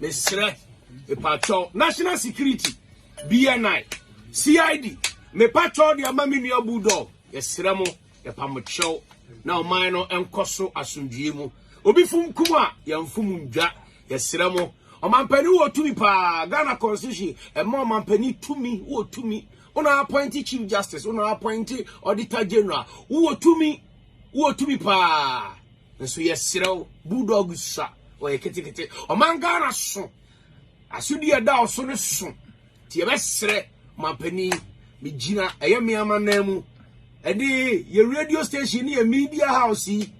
Mesrɛ mpakyɛw National Security, BNI, CID, mepakyɛw de ama me nua Bulldog. Yɛsrɛ mo, yɛpa mo kyɛw na ɔman no nkɔ so asomdwoe mu. Obi fom kum a, yɛmfom ndwa. Yɛsrɛ mo, ɔmampanin wɔ tumi paa. Ghana Constitution ɛma ɔmampanin tumi, wɔ tumi. Wona appoint Chief Justice, wona appoint Auditor General, wowɔ tumi, wowɔ tumi paa. Nso yɛsrɛ wo, Bulldog sua ɔyɛ ketekete. Ɔman Ghana so asodi a ɛda so no so nti yɛbɛsrɛ ɔmanpanin megyina ɛyɛ me amannan mu ɛde yɛ radio station ne yɛ media house yi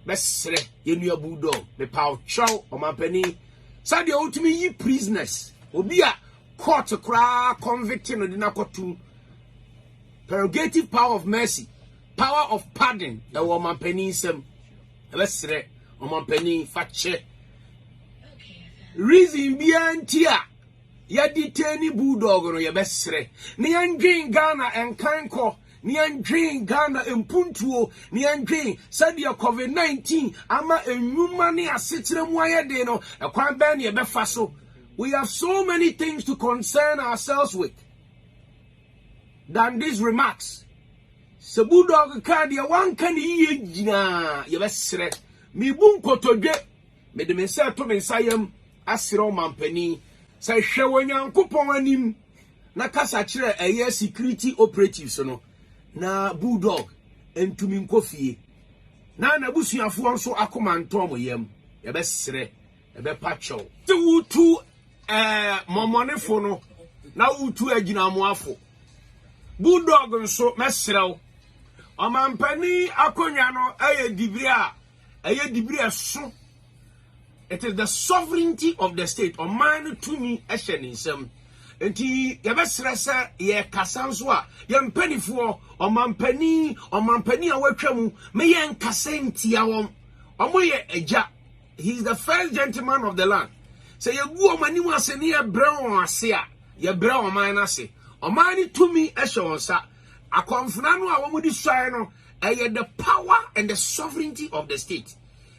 bɛsrɛ yɛnua Bulldog mepa ɔtwerɛw ɔmanpanin sɛdeɛ wotumi yi prisoners obi a court koraa convict no de no akɔtom prerogative power of mercy power of pardon ɛwɔ ɔmampanin nsam ɛbɛsrɛ ɔmampanin fa kyɛ reason biara nti a yɛde tɛni bulldog no yɛbɛsrɛ ne yɛndwen ghana nkan kɔ ne yɛndwen ghana mpuntuo ne yɛndwen sɛdeɛ covid-19 ama nnwuma ne asekyerɛ mu ayɛ den no ɛkwan bɛn ne yɛbɛfa so we have so many things to concern ourselves with than these remarks. Sɛ Bulldog kaa deɛ wanka ne yie gyinaa yɛbɛserɛ. Mebu nkotodwe, mede me nsa to me nsa yam aserɛ ɔmampanin sɛ hwɛ wɔ Nyankopɔn anim na kasa kyerɛ ɛyɛ security operatives no na Bulldog ntumi nkɔ fie na n'abusuafoɔ nso akoma ntɔ wɔn yam. Yɛbɛserɛ Ɛbɛpa kyɛw. Te wotu ɛɛ mɔmɔnefo no na wotu agyinamoafo. Bulldog nso mɛsrɛw. Ɔmampanin akonnwa no ɛyɛ dibiri a ɛyɛ dibiri ɛso. It is the sovereignty of the state. Ɔman no tumi ɛhyɛ ne nsam. Nti yɛbɛsrɛ sɛ yɛkasa nso a yɛn mpanimfoɔ ɔmampanin ɔmampanin a wɔatwa mu meyɛ nkasa ntia wɔn. Wɔyɛ agya. He is the first gentleman of the land. Sɛ yɛgu wɔn anim ase ne yɛbrɛ wɔn ase a, yɛbrɛ ɔman no ase. Ɔman no tumi hyɛ wɔn nsa. Akɔmfena no a wɔde suae no, ɛyɛ the power and the sovereignty of the state.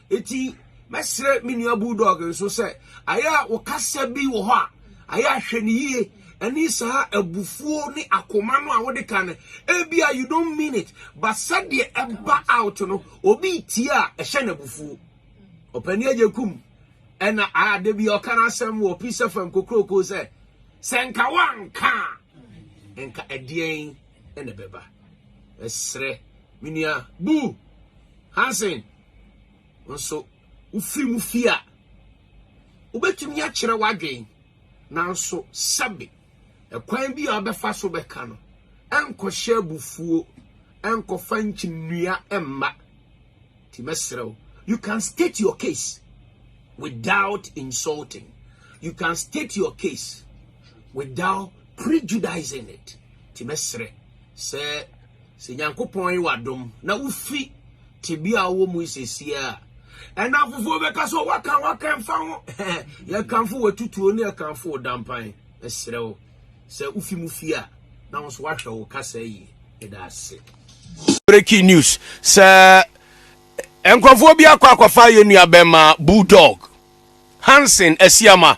Eti mɛsrɛ me nua Bulldog nso sɛ ayɛ a wɔkasa bi wɔ hɔ a, ayɛ ahwɛ no yie ɛne saa abufuo ne akoma no a wode ka no ebia you don't mean it but sɛdeɛ ɛba out no obi tie a ɛhyɛ no abufuo Ɔpanin Agyekum ɛna a da bi ɔka n'asɛm wɔ Peace FM kokuroko sɛ sɛ nka wanka a nka ɛdeɛn ɛna ɛbɛba ɛsrɛ me nua bu Hansen nso wofiri mu fie a wobɛtumi akyerɛ w'adwen nanso sɛbe Ɛkwan bi a wobɛfa so bɛka no, ɛnkɔhyɛ abufuo, ɛnkɔfa nkyinnnua mma. Nti mɛsrɛ wo, you can state your case without insulting. You can state your case without prejudicing it. Nti mɛsrɛ sɛ Sɛ Nyankopɔn ye w'adom na wufi tebea a wowɔ mu yi sesie a, ɛnamfofoɔ bɛka sɛ, Waka, waka, ɛmfa ho. Yɛkamfo w'atutuo ne yɛkamfo wo dampan. Mesrɛ wo, sɛ wofi mu fie a, na wo nso woahwɛ wo kasa yie. Yɛda ase. Breaking news sɛ nkurɔfoɔ bi akɔ akɔfa yɛn nua bɛma Bulldog Hansen Asiama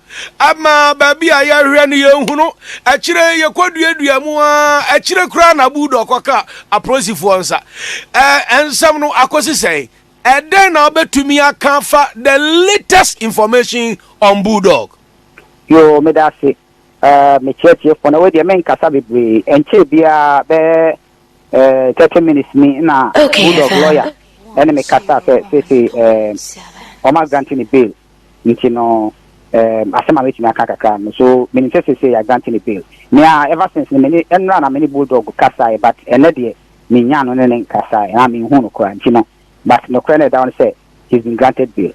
Ama baabi a yɛhwɛ no yɛnhunu. Akyire yi yɛkɔduaduaa mu ara, akyire koraa na Bulldog kɔkaa apolisifoɔ nsa. Ɛ, nsɛm no akɔsi sɛn? Ɛdɛn na wobɛtumi aka afa the latest information on Bulldog? Yoo, meda ase, ɛ, me tiatiefoɔ. Na wei deɛ menkasa bebree. Ɛnkyɛɛ biara, bɛyɛ Eh, thirty minutes ni na Bulldog lawyer ɛne me kasa sɛ seesei eh, ɔma granting ne bail nti no eh, asɛm a mɛtumi aka kakra no so menim sɛ seesei yɛ granting ne bail mea ever since no mene ɛnora na mene Bulldog kasaeɛ but ɛnɛ deɛ menya no ne ne nkasaeɛ na menhu no koraa nti no but nokorɛ no ɛda hɔ no sɛ he's been granted bail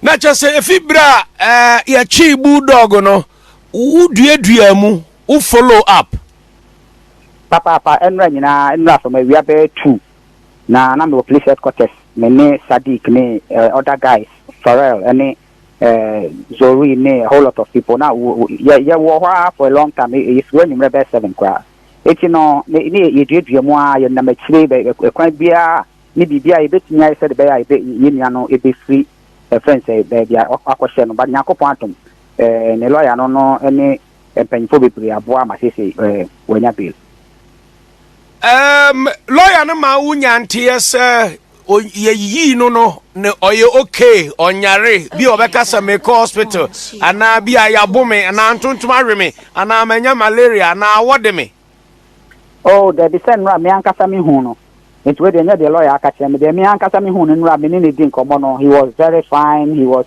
na kyɛ sɛ ɛfi berɛ a eh, yɛtwee Bulldog no woduaduaa mu Wo follow up. Papaapa ɛnora nyinaa nnura fam awia bɛyɛ two na na mewɔ police headquarters me ne Sadiq ne eh other guys Pharrell ɛne eh Zoree ne a whole lot of people na wo wo yɛ yɛ wɔ hɔ ara for a long time eh yɛfiri hɔ anwummerɛ bɛyɛ seven koraa eti no ne ne yɛ duadua mu ara yɛ nam akyire bɛ bɛ kwan biara ne biribi a yɛbɛtumi ayɛ sɛde bɛyɛ a yɛbɛ yɛ nua no ɛbɛfiri ɛfɛn sɛ baabi a wakɔhyɛ no but Nyankopɔn adom eh ne lawyer no no ɛne mpanyimfoɔ bebree aboa ma seesei wanya bail. Ɛɛm lawyer no maa wo nya nteɛ sɛ yɛyiyii no no ne ɔyɛ okay ɔnyare bi a ɔbɛka sɛ mekɔ hospital anaa bi a yɛabo me anaa ntontom awe me anaa manya malaria anaa wɔde me. Oh dabi sɛ nnora me ankasa me hu no nti wei deɛ nyɛ deɛ lawyer aka kyerɛ me deɛ me ankasa me hu no nnora me ne no di nkɔmmɔ no he was very fine he was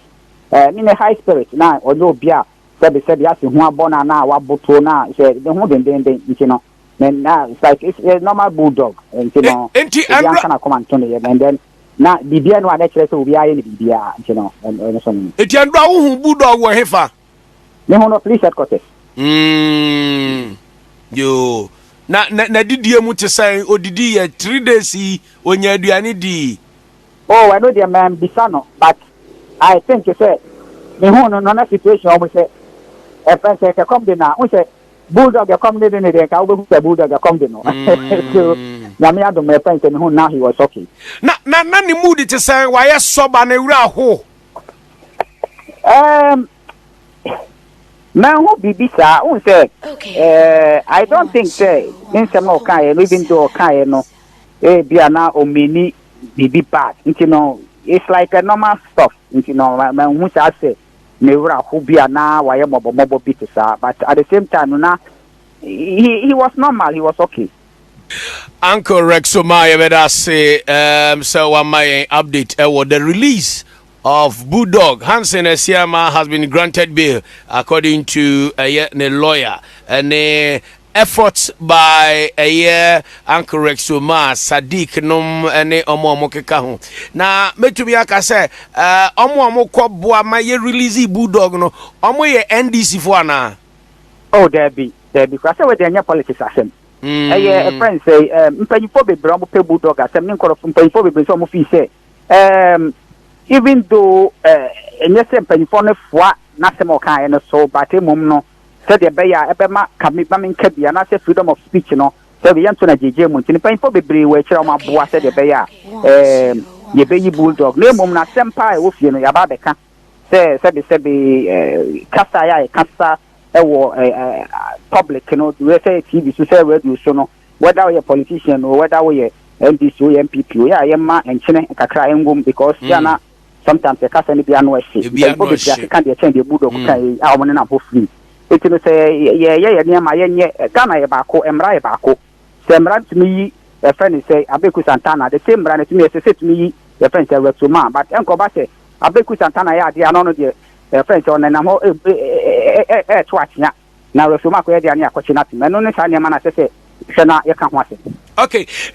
ɛɛ ne ne high spirit na ɔnyɛ obi a Sɛbe sɛ de ase ho abɔ no anaa wabotow no a, hyɛ ne ho dendennden nti no, ne na like is a normal bulldog nti no, E, enti obiara ɛnra. nka n'akoma nto ne yam and then na biribiara nni hɔ a na ɛkyerɛ sɛ obiara yɛ no biribiara nti no, ɛn, ɛno so no. Enti ɛnra wo hu bulldog wɔ hefa? Me hu no police headquarters. Mm, yoo. Na, na, n'adidie mu te sɛn? Odidi yɛ three days yi, ɔnya aduane dii? Oh ɛno deɛ manbisa no but I think sɛ mehuu no no na situation ɔmo sɛ ɛfrɛ sɛ sɛ kɔm de no a wohu sɛ bulldog ɛkɔm ne de no deɛ nka wobɛhu sɛ bulldog ɛkɔm de no so Nyame adom ɛfrɛ sɛ mehuu no now he was okay. Na na na ne mood te sɛn wayɛ sɔ ba ne wura ho. Um, manhu biribi saa wohu sɛ uh, I don't think sɛ ne nsɛm a ɔkaeɛ no even though ɔkaeɛ no ebia na ɔmini biribi bad nti no it's like a normal stuff nti no manhu saa sɛ ne werɛ ho bi a na wayɛ mmɔbɔmmɔbɔ bi te saa but at the same time no na he, he was normal he was okay Uncle Rex so ma yɛbɛda ase um, sɛ wama yɛn update ɛwɔ eh, the release of Bulldog Hansen Asiama has been granted bail according to ɛyɛ eh, ne lawyer ɛne eh, Efforts by ɛyɛ Uncle Rex Omah, Sadiq nom ne ɔmo a ɔmo keka ho. Na mɛtumi aka sɛ ɔmo a ɔmo kɔ boa ma yɛ release Bulldog no ɔmo yɛ NDC foɔ anaa? Oh daabi daabi koraa sɛ wei deɛ ɛnyɛ politics asɛm ɛyɛ ɛfrɛ no sɛi ɛɛm mpanyinfoɔ bebree a ɔmo pɛ Bulldog asɛm ne nkorɔfo mpanyinfoɔ bebree nso a ɔmo fii sɛ ɛɛm even though ɛɛ ɛnyɛ sɛ mpanyinfoɔ no foa n'asɛm a ɔkaeɛ no so but mmom no sɛdeɛ ɛbɛyɛ a ɛbɛma ka me ma me nka bi anaasɛ freedom of speech no sɛdeɛ yɛnto no agyegyeɛ mu nti no mpanyinfoɔ bebree wɔ akyire a wɔaboa sɛdeɛ ɛbɛyɛ a ɛɛm yɛbɛyi bulldog na mmom na asɛm paa a ɛwɔ fie no yɛaba abɛka sɛ sɛbesɛbe ɛɛ kasa a yɛkasa ɛwɔ ɛɛ public no wɛ sɛ tv so sɛ radio so no wɛda woyɛ politician o wɛda woyɛ ndc o yɛ npp o yɛ a yɛma nkyene kakra ɛngom because yɛ ana mm. Sometimes yɛka sɛ no bi ano hye. Mpanyimfo bebree ase ka deɛ ɛkyɛn deɛ Bulldog kaeɛ yi a wɔnenam hɔ firi. Enti no sɛ yɛyɛ yɛn nneɛma a yɛnyɛ, Ghana yɛ baako, mmara yɛ baako. Sɛ mmara no tumi yi yɛfrɛ no sɛ Abeku Santana a, the same mmara no tumi ɛsɛ sɛ ɛtumi yi yɛfrɛ no sɛ Rex Omaa. But ɛnkɔba sɛ Abeku Santana yɛ adeɛ a na ɔno deɛ yɛfrɛ no sɛ ɔnenam hɔ ɛ- ɛ- ɛ- ɛ- ɛ- ɛreto akyea na Rex Omaa akɔyɛ deɛ a ne yɛakɔkye no atom. Ɛno ne saa nneɛma no a ɛsɛ sɛ hwɛ na yɛka ho asɛm. Okay.